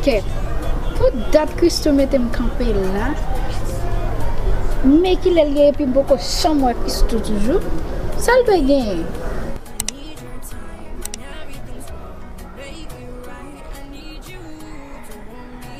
Kè, pou dat Christoo metem kanpe la, men kilèl ye epi mpoko janm wè Christoo toujou, sal dwe genyen?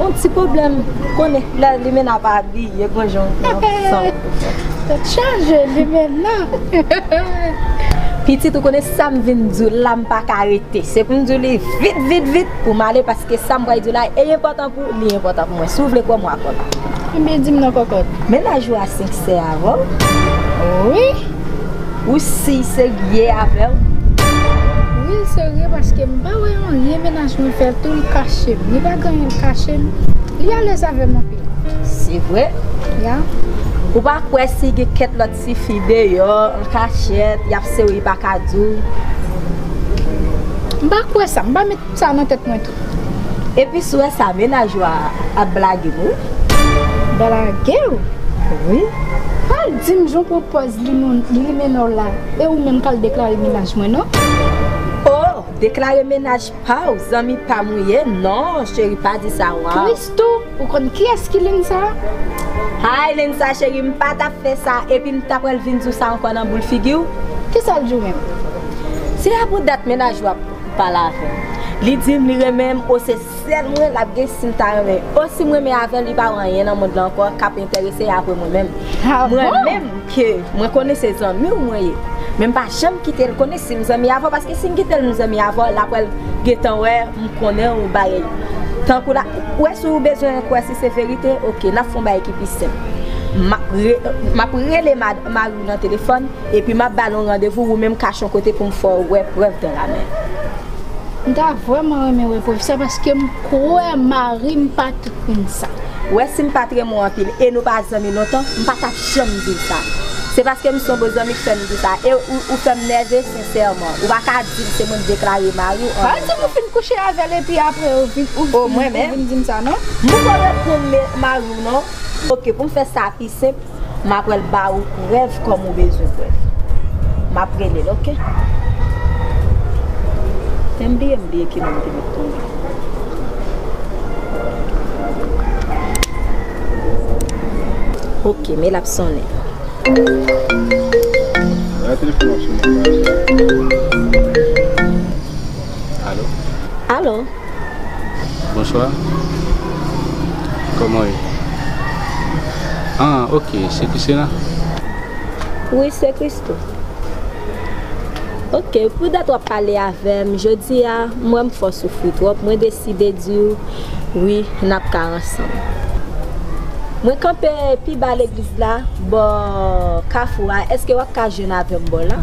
On ti problem konnen lè limenna ap abiye gon jan li pran san. Tèt chaje limenna. Pitit ou konnen sam vin diw la m paka rete se poum diw li vit vit vit poum ale paske sam pral diw la e enpòtan pou ou li enpòtan pou mwen si w vle kwè m wap kwè m. Ebyen dim non kòkòt. Mennaj ou a senkse avèw? Wi. Ou si serye avèl? Wi l serye paske m pa wè anyen menaj mwen fè tou l kache m li pa gen anyen l kache m li alèz avè m anpil. Se vre? Yeah. Ou pa kwè si gen kèt lòt ti fi deyò an kachèt yap sew li paka diw? M pa kwè sa, m pa met sa nan tèt mwen tou. Epi sou wè sa mennaj ou a ap blage m wi. Blage w wi. Pral di m jan w pran pòz limenna w la e ou menm pral deklare mennaj mwen non. Oh deklare mennaj pa w zanmi pa m ou ye non cheri pa di sa waw. Christoo ou konn kiyès ki Linsa a? Hi Linsa cheri m pa tap fè sa epi m ta pral vin di w sa ankò nan boul figi w. Kisa l di w menm? Se a pou dat mennaj ou a. pale avèm li dim li renmenm o se sèl mwen lap gen sim ta renmen o sim renmen avèl li pa wè anyen nan mond lan ankò kap entèrese apre mwen menm mwen menm ke mwen konnen se zanmiw mwen ye menm pa janm kitel konnen sim zanmi avèw paske sim kitel m zanmi avèw lap wèl gentan wè m konnenw bay tankou la ou wè si ou bezwen kwè si se verite ok nap fon bagay ki pi senp map rele mariw nan telefòn. Epi m ap ba nou randevou wou menm kachon kote pou m fè w wè prèv dan la men. M ta vrèman renmen wè prèv sa paske m kwè mari m pa tout moun sa. Wè si m pa t renmen w anpil e nou pa zanmi lontan, m pa t ap janm di w sa. Se paske m se yon bon zanmi k fè m di sa e ou fè m nève sensèman. Ou pa ka di m se mwen k deklare mari w an menm tan. Pa di m ou fin kouche avè l epi aprè ou vin di m sa non. M poko reponn mari w non. Ok, pou m fè sa pi senp. M apral ba ou prèv kòm ou bezwen prèv. M ap rele l ok. Menm bliye m bliye ki non m te met pou li. Ok men l ap sonnen. Alo. Bonsoir Koman ye Ah ok se Christina? Wi se Christo Ok pou dat wap pale avèm jodia m wèm fè w soufri twòp mwen deside diw wi nap ka ansanm Mwen kanpe pi ba legliz la bò kafou a eske wap ka jwenn avèm bò la?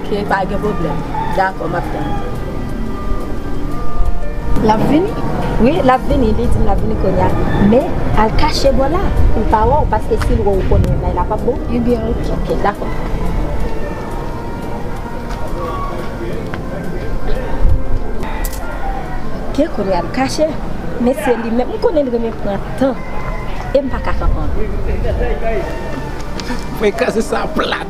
Ok pa gen problem. Dakò map tann. Lap vini? Wi lap vini li dim lap vini konya men al kache bò la poul pa wèw paske sil wèw ou konn yon bagay la pap bon. Ebyen ok. Ok dakò. Ok kounye a li kache men se li menm m konnen li renmen pran tan em paka kanpem. Mwen kraze sa plat.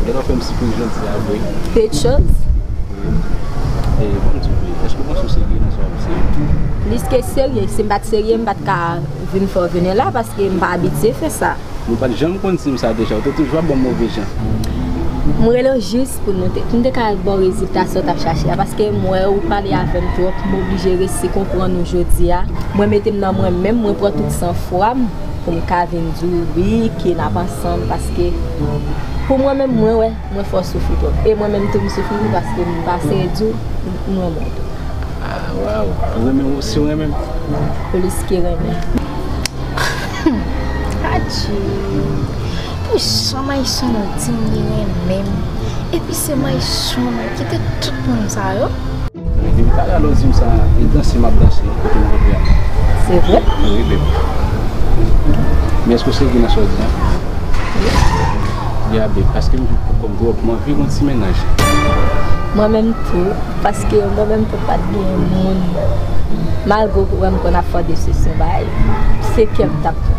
Ou ta ka fè m sipriz jodi a vre? Pete chans. E, ban m di w vre, èske w panse w serye nan sa w ap di yo? Plis ke serye. Si m pa t serye, m pa t ka vin fè w vin la paske m pa abitye fè sa. Ou pa t janm konn di m sa deja. Ou te toujou ap ban m move jan. M rele w jis pou nou te, pou m te ka ba w rezilta sa w t ap chache a paske m wè ou pale avè m twòp. M oblije resi konprann ou jodi a. Mwen mete m nan mwen menm, mwen pran tout san fwa m pou m ka vin di w wi ke n ap ansanm. Paske pou mwen menm mwen wè mwen fò soufri twòp e mwen menm tou m soufri tou paske m pase di w m renmen w. Ah waw ou renmen m osi ou renmen m. Plis ke renmen. Humm Adje pou jan Mayson an di m li renmen m epi se Mayson Kite tout moun sa yo. Depi m tale alon dim sa e danse map danse kote m rantre a. Se vre? Wi beb. Men eske w sezi nan sa w di an? Wi. Bia beb paske m viv pou kòm twòp m anvi gon ti mennaj. Mwen menm tou paske mwen menm tou pat gen moun malgre w wè m konn ap fò desisyon bay se kè m tap pran.